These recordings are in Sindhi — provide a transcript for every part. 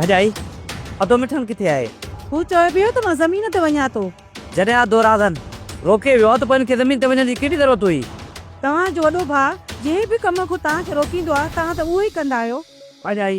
ڀڄائي ادو مٺن ڪٿي آهي هو چوي پيو ته مان زمين تي وڃان ٿو جڏهن ادو راڌن روڪي ويو ته پوء هن کي زمين تي وڃڻ جي ڪهڙي ضرورت هئي توهان جو وڏو ڀاء جنهن به ڪم کان توهان کي روڪيندو آهي توهان ته اهو ئي ڪندا آهيو ڀڄائي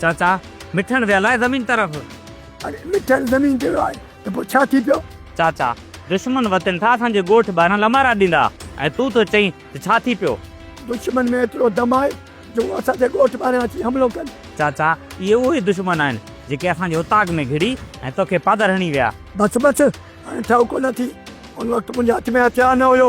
چاچا، مٺڻ ويل آهي زمين طرف. اڙي مٺڻ زمين تي ويو آهي ته پوء ڇا ٿي پيو؟ چاچا، دشمن وتن ٿا اسان جي ڳوٺ ٻاهران لمارا ڏيندا ۽ تون ٿو چئين ته ڇا ٿي پيو؟ دشمن ۾ ايترو دم آهي جو هو اسان جي ڳوٺ ٻاهران اچي حملو ڪن. چاچا، اهي اهو ئي دشمن آهن جيڪي اسان جي اتاگ ۾ گهڙي ۽ توکي پاڌر هڻي ويا. بس بس، هاڻي ٺهڪو نه ٿي. ان وقت منهنجي هٿ ۾ هٿيار نه هيو.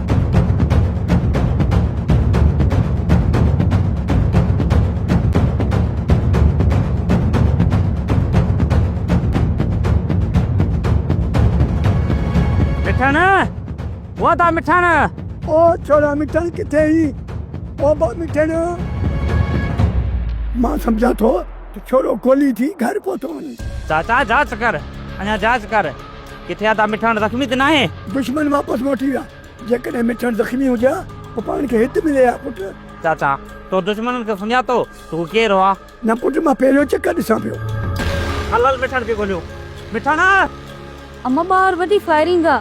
مٺاڻ او ڇوڙا مٺاڻ ڪٿي هي او با مٺاڻ مان سمجهان ٿو ته ڇوڙو گولي ٿي گهر پهتو وڃي چاچا جاچ ڪر اڃا جاچ ڪر ڪٿي آ؟ ته مٺاڻ زخمي ته ناهي؟ دشمن واپس موٽي ويا. جيڪڏهن مٺاڻ زخمي هجي ها ته پاڻ کي هت ملي ها پٽ. چاچا، تو دشمنن کي سڃاتو ته هو ڪير هئا؟ نه پٽ، مان پهريون چڪر ڏسان پيو. هل هل مٺاڻ کي ڳوليون. مٺاڻ! اما ٻاهر وڏي فائرنگ آ.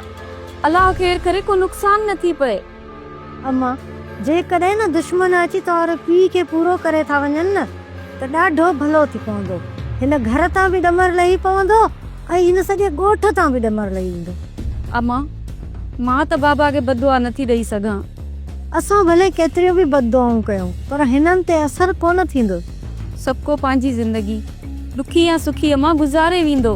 الله خير ڪري ڪو نقصان نه ٿي پئي. اما، جيڪڏهن نه دشمن اچي توهان پيء کي پورو ڪري ٿا وڃن نه ته ڏاڍو ڀلو ٿي پوندو. هن گهر تان به ڏمر لهي پوندو ۽ هن سڄي ڳوٺ تان به ڏمر لهي ويندو. اما، مان ته بابا کي بددعا نٿي ڏئي سگهان. اسان ڀلي ڪيتريون به بددعائون ڪيون پر هنن تي اثر ڪونه ٿيندو. سڀڪو پنهنجي زندگي، ڏکي يا سکي اما، گذاري ويندو.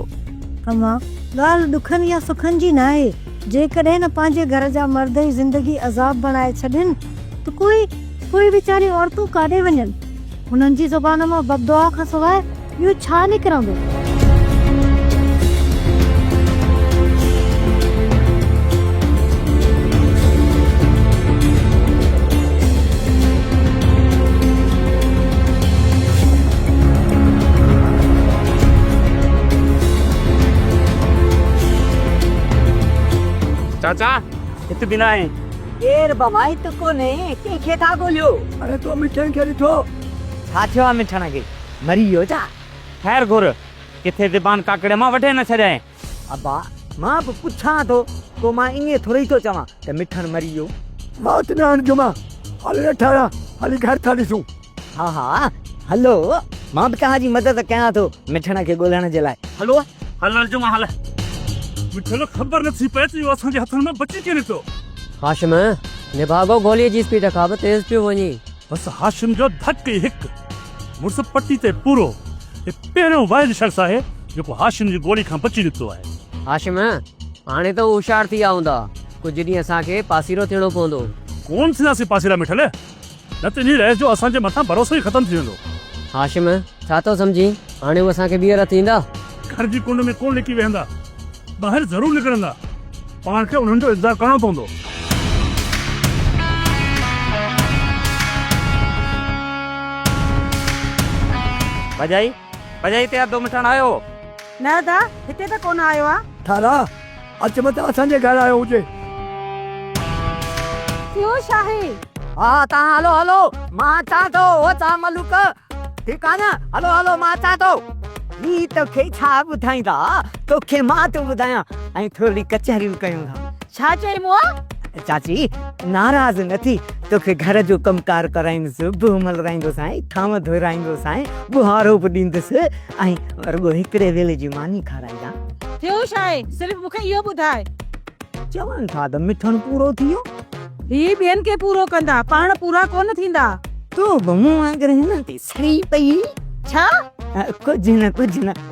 اما، ڳالهه ڏکن يا سکن جي ناهي. جيڪڏهن نه پنهنجي گهر جا مرد ئي زندگي عذاب بڻائي ڇڏين ته پوء پوء ويچاريون عورتون ڪاڏي وڃن؟ هنن جي زبان مان بددعا کان سواء ٻيو ڇا نڪرندو؟ چاچا هت به ناهي. ڪير بابا هت ڪونهي ڪنهن کي ٿا ڳوليو. اڙي تو مٺڻ کي ڏٺو. ڇا ٿيو آ مٺڻ کي مري ويو ڇا. خير گهر ڪٿي زبان ڪاڪڙي مان وڍي نه ڇڏيائين. ابا مان به پڇان ٿو پوء مان ائين ٿورئي ٿو چوان ته مٺڻ مري ويو. موت نه آڻجو مان هل رٺايا هلي گهر ٿا ڏسون. ها ها هلو مان به توهان جي مدد ڪيان ٿو مٺڻ کي ڳولڻ جي لاء. هلو هل هل جمعه هل. مٺل خبر نه ٿي پئي ته اهو اسان جي هٿن مان بچي ڪيئن نڪتو. هاشم نڀاڳو گوليء جي اسپيڊ کان به تيز پيو وڃي. بس هاشم جو ڌڪ ئي هڪ. مڙس پٽي تي پورو. هي پهريون واحد شخص آهي جيڪو هاشم جي گولي کان بچي نڪتو آهي. هاشم هاڻي ته هوشيار ٿي ويا هوندا. ڪجهه ڏينهن اسان کي پاسيرو ٿيڻو پوندو. ڪونه ٿينداسين پاسيرا مٺل. نه ته انهيء رئيس جو اسان جي مٿان ڀروسو ئي ختم ٿي ويندو. هاشم، ڇا ٿو سمجهين؟ هاڻي هو اسان کي ٻيهر هٿ ايندا؟ گهر جي ڪنڊ ۾ ڪونه لڪي ويهندا. ٻاهر ضرور نڪرندا. پاڻ کي انهن جو انتظار ڪرڻو پوندو. ڀڄائي! ڀڄائي تيار دو مٺاڻ آيو هو. نه ادا هتي ته ڪونه آيو آ. ٿارا اچ متان اسان جي گهر آيو هجي. سيو شاهي. ها تان هلو هلو مان اچان ٿو او تان ملوڪ ٺيڪ آ نه هلو هلو مان اچان ٿو. هي توکي ڇا ٻڌائيندا توکي مان ٿو ٻڌايان ۽ ٿورڙي ڪچهريون ڪيون ٿا. ڇا چئي مون؟ چاچي ناراض نه ٿي، توکي گهر جو ڪم ڪار ڪرائيندس، بوء ملرائيندوسانء، ٿانو ڌوئرائيندوسانء، ٻوهارو به ڏيندس ۽ رڳو هڪڙي ويلي جي ماني کارائيندانء. ٿيو ڇا آهي؟ صرف مون کي اهو ٻڌاء. چون ٿا ته مٺڻ پورو ٿي ويو. هي ٻين کي پورو ڪندا، پاڻ پورا ڪونه ٿيندا. تون به مون وانگر هنن تي سڙي پئي. ڇا؟ ڪجهه نه ڪجهه نه.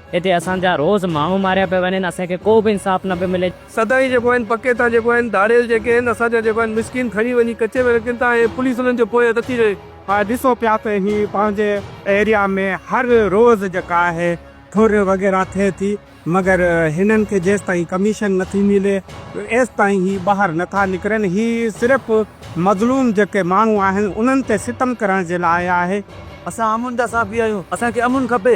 هتي اسان جا روز ماڻهو ماريا پيا وڃن اسان کي ڪو به انصاف نه پيو ملي. سدائين جيڪو آهن پڪي ٿا جيڪو آهن ڌاڙيل جيڪي آهن اسان جا جيڪو آهن مسڪين کڻي وڃي ڪچي ۾ رکين ٿا ۽ پوليس انهن جي پوئين نٿي رهي. ها ڏسو پيا ته هي پنهنجي ايريا ۾ هر روز جيڪا آهي ٺري وغيره ٿئي ٿي مگر هنن کي جيستائين ڪميشن نٿي ملي ايستائين هي ٻاهر نٿا نڪرن هي صرف مظلوم جيڪي ماڻهو آهن انهن تي ستم ڪرڻ جي لاء آهي. اسان امن جا صحافي آهيون اسان کي امن کپي.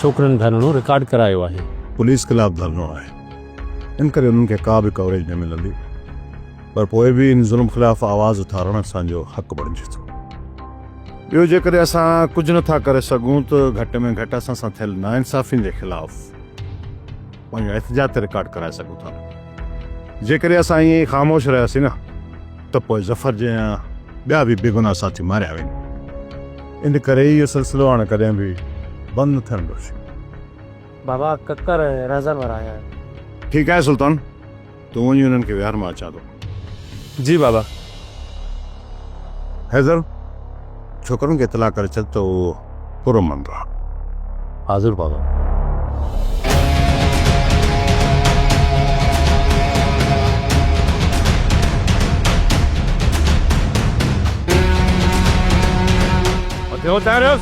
ڇوڪرين ڌرڻو رڪارڊ ڪرايو آهي. پوليس خلاف ڌرڻو آهي ان ڪري انهن کي ڪا به ڪوريج نه ملندي پر پوء به ان ظلم خلاف آواز اٿارڻ اسان جو حق بڻجي ٿو. ٻيو جيڪڏهن اسان ڪجهه نه ٿا ڪري سگهون ته گهٽ ۾ گهٽ اسان سان ٿيل ناانصافين جي خلاف. پنهنجو احتجاج ته رڪارڊ ڪرائي سگهون ٿا. جيڪڏهن اسان ائين ئي خاموش رهياسين نه ته پوء ظفر جيان ٻيا به بيگناهه ساٿي ماريا ويندا. ان ڪري اهو سلسلو هاڻ ڪڏهن به بند نه ٿيڻ ڏيوسين. بابا ڪڪر ۽ رهزن وارا آهيان. ٺيڪ آهي سلطان. تون وڃي انهن کي ويهار مان اچان ٿو. جي بابا. حيدر ڇوڪرن کي اطلاع ڪري ڇڏ ته هو پر امن رهن. حاضر بابا. ٻيو تعارف.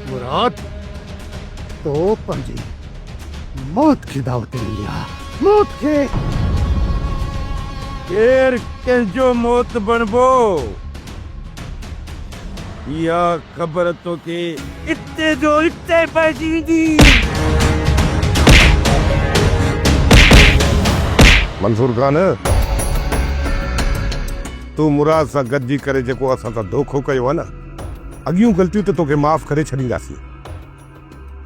مراد تو پنهنجي موت کي دعوت ڏني آ. موت کي. ڪير ڪنهن جو موت بڻبو؟ اها خبر توکي اتي جو اتي پئجي ويندي. منصور خان! تو مراد سان گڏجي ڪري جيڪو اسان سان دوکو ڪيو آهي نه، اڳيون غلطيون ته توکي معاف ڪري ڇڏينداسين.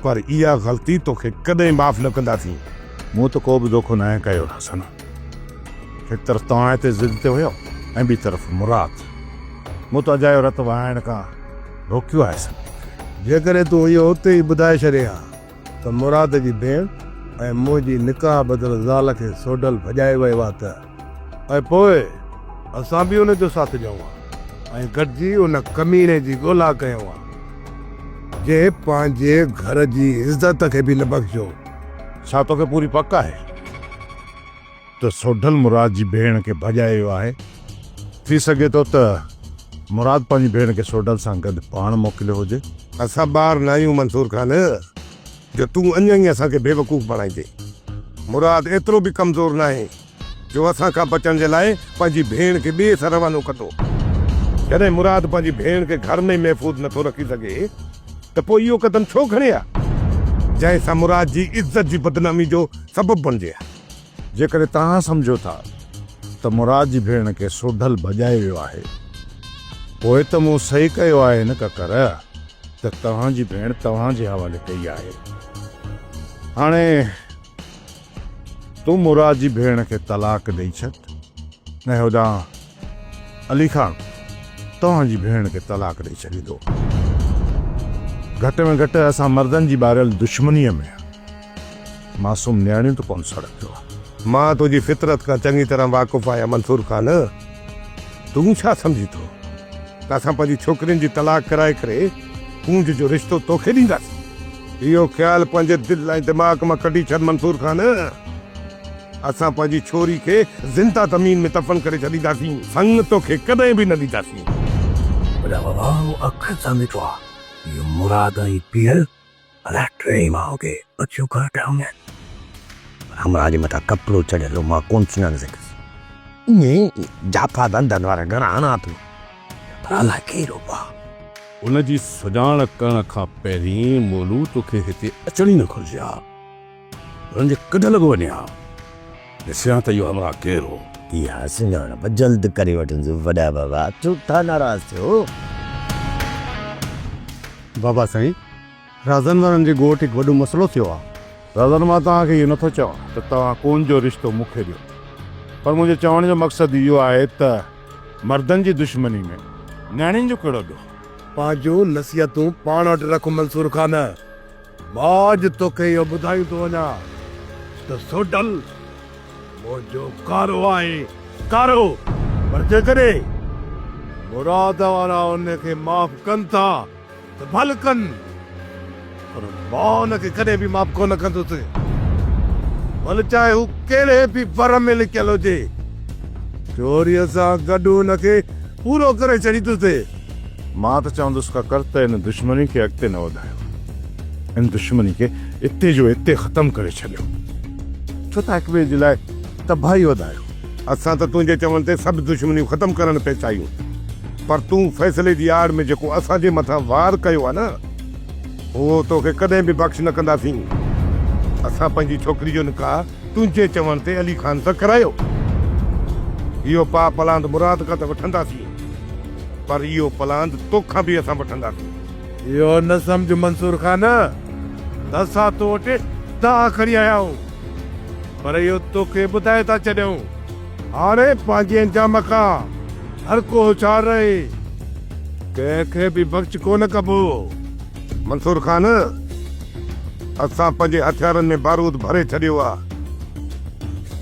پر اها غلطي توکي ڪڏهن معاف نه ڪنداسين. مون ته ڪو به دوکو ناهي ڪيو رهسن. هڪ طرف توهان هتي ضد تي هيو ۽ ٻي طرف مراد. مون ته اجايو رت وهائڻ کان روڪيو آهي سن مون کي. جيڪڏهن تون اهو اتي ئي ٻڌائي ڇڏين ها ته مراد جي ڀيڻ ۽ منهنجي نڪاح ٻڌل زال کي سوڍل ڀڄائي ويو آهي ته. ۽ پوء اسان به ان جو ساٿ ڏيون ها ۽ گڏجي ان ڪميڻي جي ڳولا ڪيون ها، جنهن پنهنجي گهر جي عزت کي به نه بخشيو. ڇا توکي پوري پڪ آهي ته سوڍل مراد جي ڀيڻ کي ڀڄائي ويو آهي؟ ٿي سگهي ٿو ته مراد پنهنجي ڀيڻ کي سوڍل سان گڏ پاڻ موڪليو هجي. اسان ٻار ناهيون منصور خان. جو تون اڃا ئي اسان کي بيوقوف بڻائيندين. مراد ايترو به ڪمزور ناهي جو اسان کان بچڻ جي لاء پنهنجي ڀيڻ کي ٻئي سر روانو ڪندو. جڏهن مراد پنهنجي ڀيڻ کي گهر ۾ ئي محفوظ نه ٿو رکي سگهي ته پوء اهو قدم ڇو کڻي ها، جنهن سان مراد جي عزت جي بدنامي جو سبب بڻجي ها. جيڪڏهن توهان سمجهو ٿا ته مراد جي ڀيڻ کي سوڍل ڀڄائي ويو آهي پوء ته مون صحيح ڪيو آهي نه ڪڪر ته توهان جي ڀيڻ توهان جي حوالي ڪئي آهي. هاڻي تون مراد جي ڀيڻ کي طلاق ڏئي ڇڏ ۽ هوڏانهن علي خان توهان جي ڀيڻ کي طلاق ڏئي ڇڏيندو. گهٽ ۾ گهٽ اسان مردن جي ٻاريل دشمنيء ۾ معصوم نياڻيون ته ڪونه سڙنديون. مان تنهنجي فطرت کان چڱي طرح واقف آهيان منصور خان. تون ڇا سمجهين ٿو ته اسان پنهنجي ڇوڪرين جي طلاق ڪرائي ڪري ڪونج جو رشتو توکي ڏينداسين. اهو خيال پنهنجي دل ۽ دماغ مان ڪڍي ڇڏ منصور خان. اسان پنهنجي ڇوري کي زنده زمين ۾ دفن ڪري ڇڏينداسين، سڱ توکي ڪڏهن به نه ڏينداسين. وڏا بابا مون اکين سان ڏٺو آ اهي مراد ۽ پير الاء ٽي ماء کي اڇيون ڪري ٺاهيون آهن. پر همراهه جي مٿان ڪپڙو چڙهيل هو مان ڪونه سڃاڻي سگهيس. اهي ئي جافا ڌنڌن وارا گهڻا هڻان پيو پر الاء ڪير هئا. ان جي سڃاڻ ڪرڻ کان پهرين مولو توکي هتي اچڻ ئي نه گهرجي ها. هن جي ڪڍ لڳو وڃي ها. ڏسيان ته اهو همراهه ڪير هو. اها سڃاڻپ جلد ڪري وٺنس وڏا بابا ڇو ٿا ناراض ٿيو. بابا سائين رازن وارن جي ڳوٺ هڪ وڏو مسئلو ٿيو آ. رازن مان توهان کي اهو نه ٿو چوان ته توهان ڪون جو رشتو مون کي ڏيو پر منهنجي چوڻ جو مقصد اهو آهي ته مردن جي دشمني ۾ نياڻين جو ڪهڙو ڏوهه. پنهنجون نصيحتون پاڻ وٽ رک منصور خان. مان اڄ توکي اهو ٻڌائي ٿو وڃان ته سوڍل منهنجو ڪارو آهي، ڪارو! پر جيڪڏهن مراد وارا ان کي معاف ڪن ٿا ته ڀل ڪن، پر مان ان کي ڪڏهن به معاف ڪونه ڪندس، ڀل چاهي هو ڪهڙي به ور ۾ لڪيل هجي. چوريء سان گڏ ان کي پورو ڪري ڇڏيندس. مان ته چوندس کا ڪر ته ان دشمني کي اڳتي نه وڌايو. ان دشمني کي اتي جو اتي ختم ڪري ڇڏيو. ڇو ٿا هڪٻئي جي لاء تباهي وڌايو. اسان ته تنهنجي چوڻ تي سڀ دشمنيون ختم ڪرڻ پئي چاهيون پر تون فيصلي جي آڙ ۾ جيڪو اسان جي مٿان وار ڪيو آهي نه اهو توکي ڪڏهن به بخش نه ڪنداسين. اسان پنهنجي ڇوڪري جو نڪاح تنهنجي چوڻ تي علي خان سکرايو، اهو پاء پلاند مراد کان ته وٺنداسين، پر اهو پلاند توکان به اسان وٺنداسين. اهو نه سمجهه منصور خان ته اسان تو وٽ دانهن کڻي آيا آهيون، پر اهو توکي ٻڌائي ٿا ڇڏيون. هاڻي پنهنجي انجام کان هر ڪو هوشيار رهي. ڪنهن کي به بخش ڪونه ڪبو. منصور خان، اسان پنهنجي هٿيارن ۾ بارود ڀري ڇڏيو آ.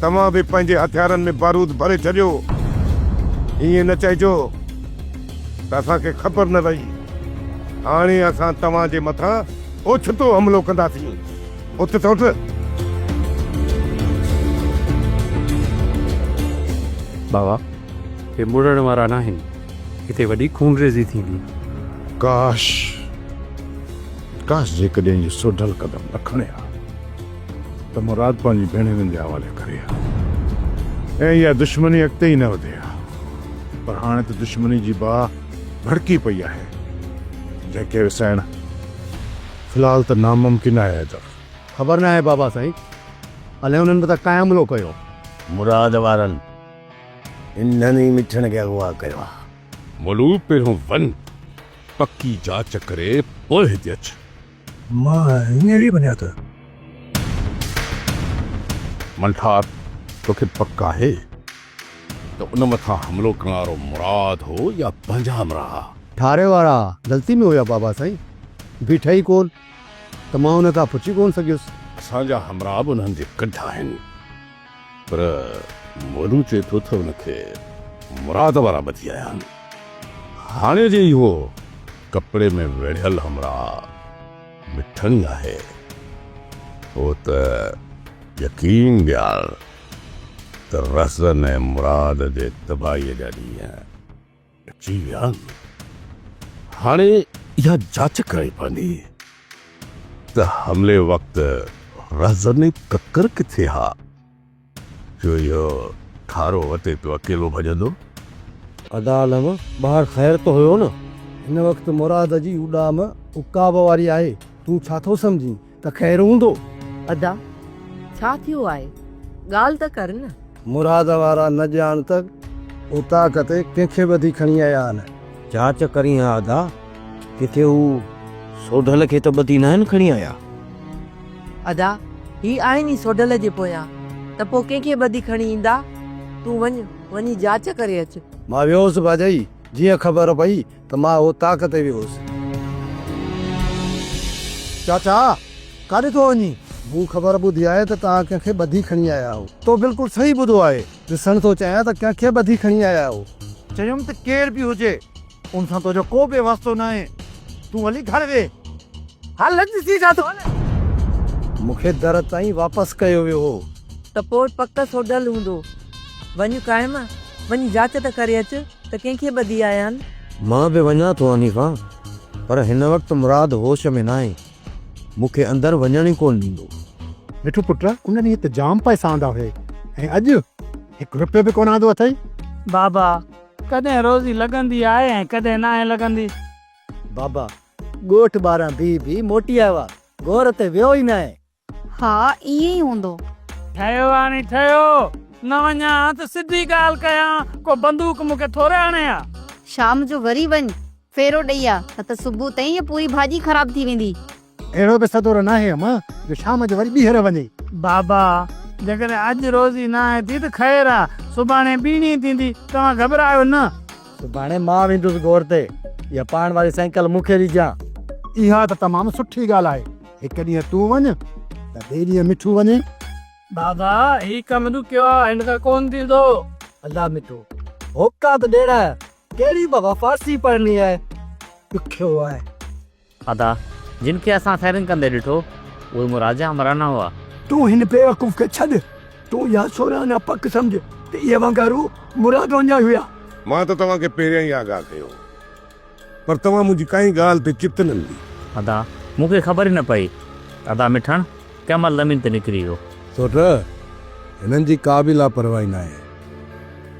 توهان به پنهنجي هٿيارن ۾ بارود ڀري ڇڏيو. ائين نه چئجو ته اسان کي خبر نه رهي. هاڻي اسان توهان جي مٿان اوچتو حملو ڪنداسين. اٿ ته اٿ. بابا، هي مڙڻ وارا ناهن. هتي وڏي خونريزي ٿيندي. ڪاش! ڪاش جيڪڏهن اهي سوڍل قدم نه کڻي ها ته مراد پنهنجي ڀيڻيوين جي حوالي ڪري ها ۽ اها دشمني اڳتي ئي نه وڌي ها پر هاڻي ته دشمني جي باهه ڀڙڪي پئي آهي جنهن کي وسائڻ في الحال ته ناممڪن آهي حيدر. خبر ناهي بابا سائين الهي انهن مٿان ڪانء حملو ڪيو. مراد وارن انهن ئي مٺڻ کي اغوا ڪيو آ. ملو پهريون وڃ پڪي جاچ ڪري پوء هتي اچ. مان هينئر ئي وڃان ٿو. منٺار توکي پڪ آهي ته ان مٿان حملو ڪرڻ وارو مراد هو يا پنهنجا همراهه؟ ٺاري وارا غلطي ۾ هيا بابا سائين. بيٺا ئي ڪون ته مان انهن کان پڇي ڪون سگهيس. اسان جا همراهه به انهن جي ڪڍ آهن. پر مولو چئي ٿو تھ ان کي مراد وارا ٻڌي آيا آھن. ھاڻي جي اھو ڪپڙي ۾ ويڙھيل ھمراھ مٺڻي آھي، پوء تھ يقين ڏيار تھ رھزن ۽ مراد جي تباھيء جا ڏينھن جي هان، هاڻي اها جاچ ڪرڻي پوندي ته حملي وقت رهزن ۽ ڪڪر ڪٿي ها، جو اهو ٺارو وتي پيو اڪيلو ڀڄندو. ادا عالم، ٻاهر خير ته هيو نه؟ هن وقت مراد جي اڏام عقاب واري آهي، تون ڇا ٿو سمجهين؟ ته خير هوندو. ادا ڇا ٿيو آهي ڳالهه ته ڪر نه. مراد وارا نه ڄاڻ ته اوطاق تي ڪنهن کي ٻڌي کڻي آيا آهن. جاچ ڪرين ها ادا ڪٿي هو سوڍل کي ته ٻڌي ناهن کڻي آيا. ادا هي آهن ئي سوڍل جي پويان ته پو ڪنهن کي ٻڌي کڻي ايندا تون وڃ وڃي جاچ ڪري اچ. مان ويوس ڀاڄائي جيئن خبر پئي ته مان اهو تاڪ تي به هوس. چاچا! ڪاڏي ٿو وڃين؟ مون خبر ٻڌي آهي ته توهان ڪنهن کي ٻڌي کڻي آيا آهيو. تو بلڪل صحيح ٻڌو آهي. ڏسڻ ٿو چاهيان ته ڪنهن کي ٻڌي کڻي آيا آهيو. چيم ته ڪير به هجي، ان سان تنهنجو ڪو به واسطو ناهي. تون هلي گهر ويهه. هل ڏسي ڇا ٿو هلي. مون کي در تائين واپس ڪيو ويو هو. ته پوء پڪ سوڍل هوندو. وڃ قائم، وڃي جاچ ته ڪري اچ ته ڪنهن کي ٻڌي آيان. مان به وڃان ٿو حنيفه، پر هن وقت مراد هوش ۾ ناهي، مون کي اندر وڃڻ ئي ڪونه ڏيندو. مٺو پٽ، ان ڏينهن ته جام پئسا آندا هئي ۽ اڄ هڪ رپيو به ڪونه آندو اٿئي. بابا، ڪڏهن روزي لڳندي آهي ۽ ڪڏهن ناهي لڳندي. بابا، ڳوٺ ٻاهران بيهي بيهي موٽي آيو آ، گهور تي ويو ئي ناهي، ها ائين ئي هوندو. ٺهيو آ ني ٺهيو. نه وڃان ها ته سڌي ڳالهه ڪيان، ڪو بندوق مون کي ٿوري هڻي ها. شام جو وري وڃ ڦيرو ڏئي آ نه ته صبح تائين هيء پوري ڀاڄي خراب ٿي ويندي. اهڙو به سدورو ناهي اما جو شام جو وري ٻيهر وڃي. بابا! جيڪڏهن اڄ روزي ناهي ٿي ته خير آ، سڀاڻي ٻيڻي ٿيندي، توهان گهٻرايو نه. سڀاڻي مان ويندس گهور تي. اها پاڻ واري سائيڪل مون کي ڏجان. اها ته تمام سٺي ڳالهه آهي. هڪ ڏينهن تون وڃ ته ٻئي ڏينهن مٺو وڃي. بابا هي ڪم ڏکيو آ هن کان ڪون ٿيندو. الا مٺو هوڪا ته ڏيڻ آيا ڪهڙي بابا فارسي پڙهڻي آهي ڏکيو آهي. ادا جن کي اسان فائرنگ ڪندي ڏٺو اهي مون راجا همرانا هئا. تون هن بيوقوف کي ڇڏ تون اها سورهن اڃا پڪ سمجهه ته اهي وانگارو مراد وڃائي هيا. مان ته توهان کي پهريان ئي آگاهه ڪيو هو پر توهان منهنجي ڪنهن ڳالهه تي چت نه ڏني. ادا، مون کي خبر ئي نه پئي. ادا مٺڻ ڪنهن مهل زمين تي نڪري ويو. سوٽ، هنن جي ڪا به لاپرواهي ناهي.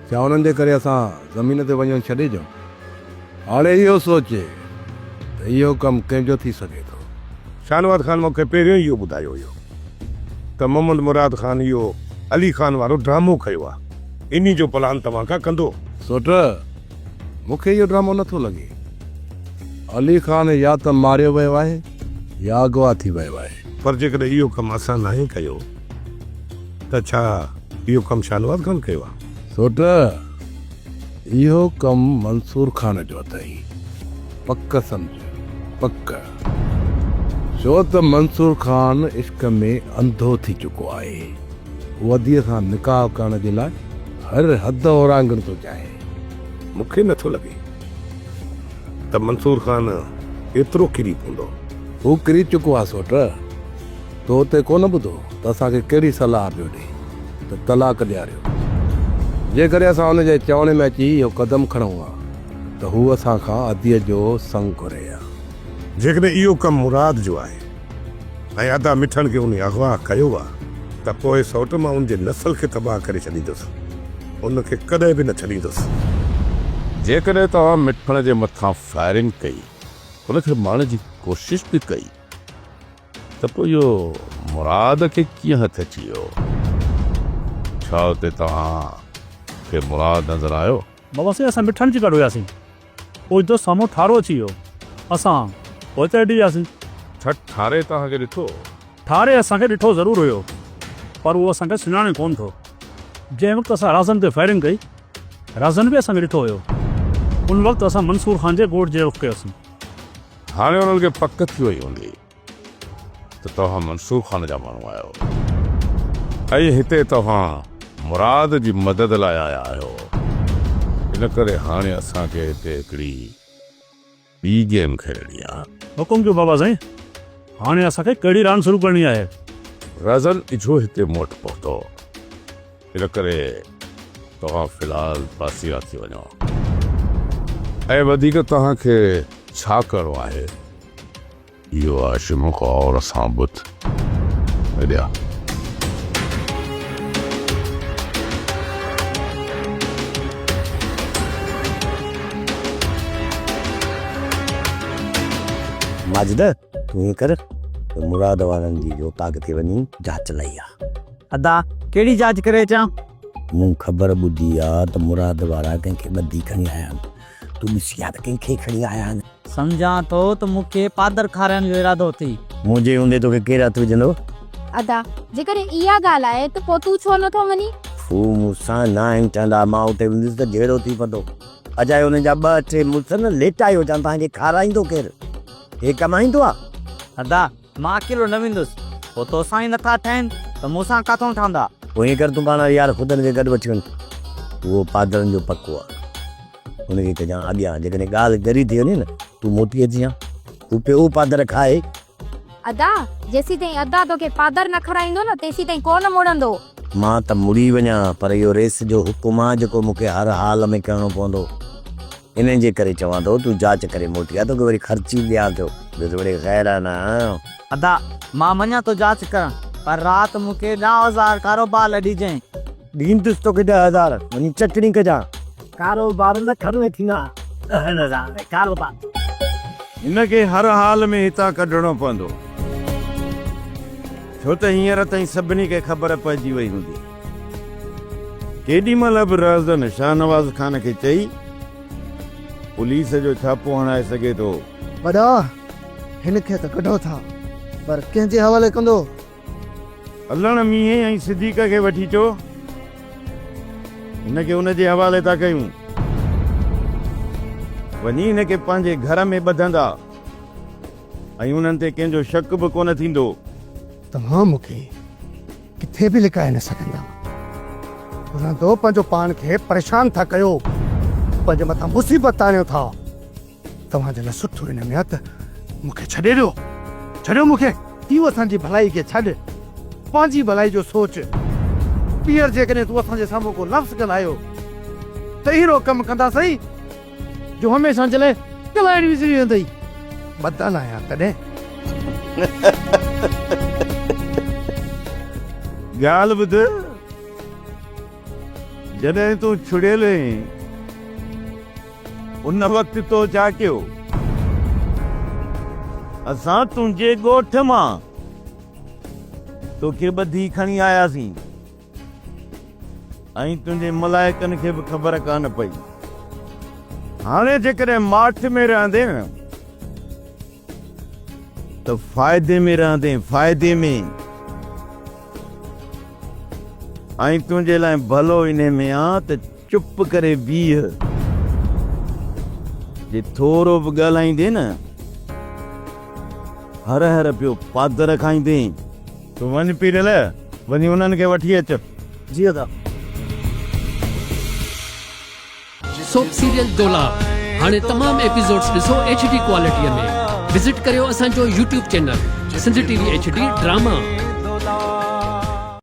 ڇا انهن جي ڪري اسان زمين تي وڃڻ ڇڏي ڏيون؟ هاڻي اهو سوچ ته اهو ڪم ڪنهن جو ٿي سگهي ٿو. شاهنواز خان مون کي پهريون ئي اهو ٻڌايو هيو ته محمد مراد خان اهو علي خان وارو ڊرامو ڪيو آهي. انهي جو پلان توهان ڪا ڪندو. سوٽ، مون کي اهو ڊرامو نٿو لڳي علي خان يا ته ماريو ويو آهي يا اغوا ٿي ويو آهي. پر جيڪڏهن اهو ڪم اسان ناهي ڪيو ته ڇا اهو ڪم شاهنواز خان ڪيو آهي؟ سوٽ، اهو ڪم منصور خان جو اٿئي، پڪ سمجهه، پڪ. ڇو ته منصور خان عشق ۾ انڌو ٿي چڪو آهي. هو اديء سان نڪاح ڪرڻ جي لاء هر حد اورانگهڻ ٿو چاهي. مون کي نٿو لڳي ته منصور خان ايترو ڪري پوندو. هو ڪري چڪو آهي سوٽ. تو اتي ڪونه ٻڌو ته اسان کي ڪهڙي صلاح پيو ڏئي ته طلاق ڏياريو. جيڪڏهن اسان هن جي چوڻي ۾ اچي اهو قدم کڻون ها ته هو اسان کان عديء جو سڱ گهري ها. جيڪڏهن اهو ڪم مراد جو آهي. ۽ ادا مٺڻ کي انهي اغوا ڪيو آ ته پوء سوٽ مان ان جي نسل کي تباهه ڪري ڇڏيندس. ان کي ڪڏهن به نه ڇڏيندس. جيڪڏهن توهان مٺڻ جي مٿان فائرنگ ڪئي، ان کي مارڻ جي ڪوشش به ڪئي ته پوء اهو مراد کي ڪيئن هٿ اچي ويو؟ ڇا اتي توهان کي مراد نظر آيو؟ بابا سائين اسان مٺڻ جي گڏ هياسين. اوچتو سامهون ٺارو اچي ويو. اسان پوء چڙهجي وياسين. ڇا ٺاري توهان کي ڏٺو هو؟ ٺاري اسان کي ڏٺو ضرور هيو پر اهو اسان کي سڃاڻي ڪونه ٿو. جنهن وقت اسان رازن تي فائرنگ ڪئي، رازن به اسان کي ڏٺو هيو. ان وقت اسان منصور خان جي ڳوٺ جي رخ ڪيوسين. هاڻي انهن کي پڪ ٿي وئي هوندي. ته توهان منصور خان جا ماڻهو آهيو ۽ هتي توهان مراد جي مدد لاء آيا آهيو، ان ڪري هاڻي اسان کي هتي هڪڙي ٻي گيم کيڏڻي آهي. حڪم ڪيو بابا سائين، هاڻي اسان کي ڪهڙي راند شروع ڪرڻي آهي؟ رزن اجهو هتي موٽ پهتو. ان ڪري توهان في الحال پاسيرا ٿي وڃو ۽ وڌيڪ توهان کي ڇا ڪرڻو آهي اهو هاشم غور سان ٻڌ ڏيا ماجده تون ائين ڪر ته مراد وارن جي جو تاغ تي وڃي جاچ لهي آ. ادا ڪهڙي جاچ ڪري اچان؟ مون خبر ٻڌي آ ته مراد وارا ڪنهن کي ٻڌي کڻي آيا آهن. تون ڏسي آ ته ڪنهن کي کڻي آيا آهن. سمجهان ٿو ته مون کي پادر کارائڻ جو ارادو اٿئي. منهنجي هوندي توکي ڪير هٿ وجهندو؟ ادا جيڪڏهن اها ڳالهه آهي ته پوء تون ڇو نٿو مڃين؟ هو مون سان ناهن ٺهندا. مان اتي هونديس ته جهيڙو ٿي پوندو. اجائي هنن جا ٻه ٽي مڙس نه ليٽائي هجان تان کي کارائيندو ڪير؟ هي ڪمائيندو آ؟ ادا مان اڪيلو نه ويندس. پوء توسان ئي نٿا ٺهين ته مون سان ڪاٿئون ٺهندا؟ پوء ائين ڪر تون پاڻ واري يار خدن کي گڏ وٺي وڃ. اهو پادرن جو پڪو آهي. ان کي ڪجان اڳيان. جيڪڏهن ڳالهه ڳري ٿي وڃي نه تون موٽي اچ جان. هو پيو پادر کائي. ادا! جيسين تائين ادا توکي پادر نه کارائيندو نه تيسين تائين ڪو نه مڙندو. مان ته مڙي وڃان پر اهو ريس جو حڪم آهي جيڪو مون کي هر حال ۾ ڪرڻو پوندو. انهن جي ڪري چوان ٿو تون جاچ ڪري موٽي آ توکي وري خرچي ڏيان ٿو بزوڙي غيرانه. ادا مان وڃان ٿو جاچ ڪرڻ پر رات مون کي ڏهه هزار ڪارو بار لڏي جئين. ڏيندس توکي ڏهه هزار وڃي چٽڻي ڪجان. ڪارو بار نه کڻ ۾ ٿيندا ڏهن هزار ۾ ڪارو بار. هن کي هر حال ۾ هتان ڪڍڻو پوندو ڇو ته هينئر تائين سڀني کي خبر پئجي وئي هوندي. ڪيڏي مهل به رهزن شاهنواز خان کي چئي پوليس جو ڇاپو هڻائي سگهي ٿو. وڏا! هن کي ته ڪڍو ٿا، پر ڪنهن جي حوالي ڪندو؟ علڻ مينهن ۽ صديق کي وٺي اچو، هن کي ان جي حوالي ٿا ڪيون. وڃي هن کي پنهنجي گهر ۾ ٻڌندا ۽ انهن تي ڪنهن جو شڪ به ڪونه ٿيندو. توهان مون کي ڪٿي به لڪائي نه سگهندا. رهندو پنهنجو پاڻ کي پريشان ٿا ڪيو. پنهنجي مٿان مصيبت آڻيو ٿا. توهان جي لاء سٺو ان ۾ آهي ته مون کي ڇڏي ڏيو. ڇڏيو مون کي. تون اسان جي ڀلائي کي ڇڏ. پنهنجي ڀلائي جو سوچ. ٻيهر جيڪڏهن تون اسان جي سامهون ڪو لفظ ڳالهايو ته اهڙو ڪم ڪنداسين. جو هميشه جي لاء ڳالهائڻ وسري ويندئي. بدل آهيان تڏهن. ڳالهه ٻڌ، جڏهن تون ڇڙيل هئين، ان وقت تو ڇا ڪيو؟ اسان تنهنجي ڳوٺ مان توکي ٻڌي کڻي آياسين. ۽ تنهنجي ملائڪن کي به خبر ڪانه پئي. هاڻي جيڪڏهن ماٺ ۾ رهندين ته فائدي ۾ رهندين، فائدي ۾، ۽ تنهنجي لاء ڀلو انهي ۾ آ ته. چپ ڪري بيهه. جي ٿورو به ڳالهائيندين نه هر هر پيو پادر کائيندين. تون وڃ پيرل، وڃي انهن کي وٺي اچ. جي ادا. سوپ سيريل ڊولا هاڻي تمام ايپيسوڊس ڏسو ايڇ ڊي ڪوالٽي ۾ وزٽ ڪريو اسان جو YouTube channel Sindh T V H D drama.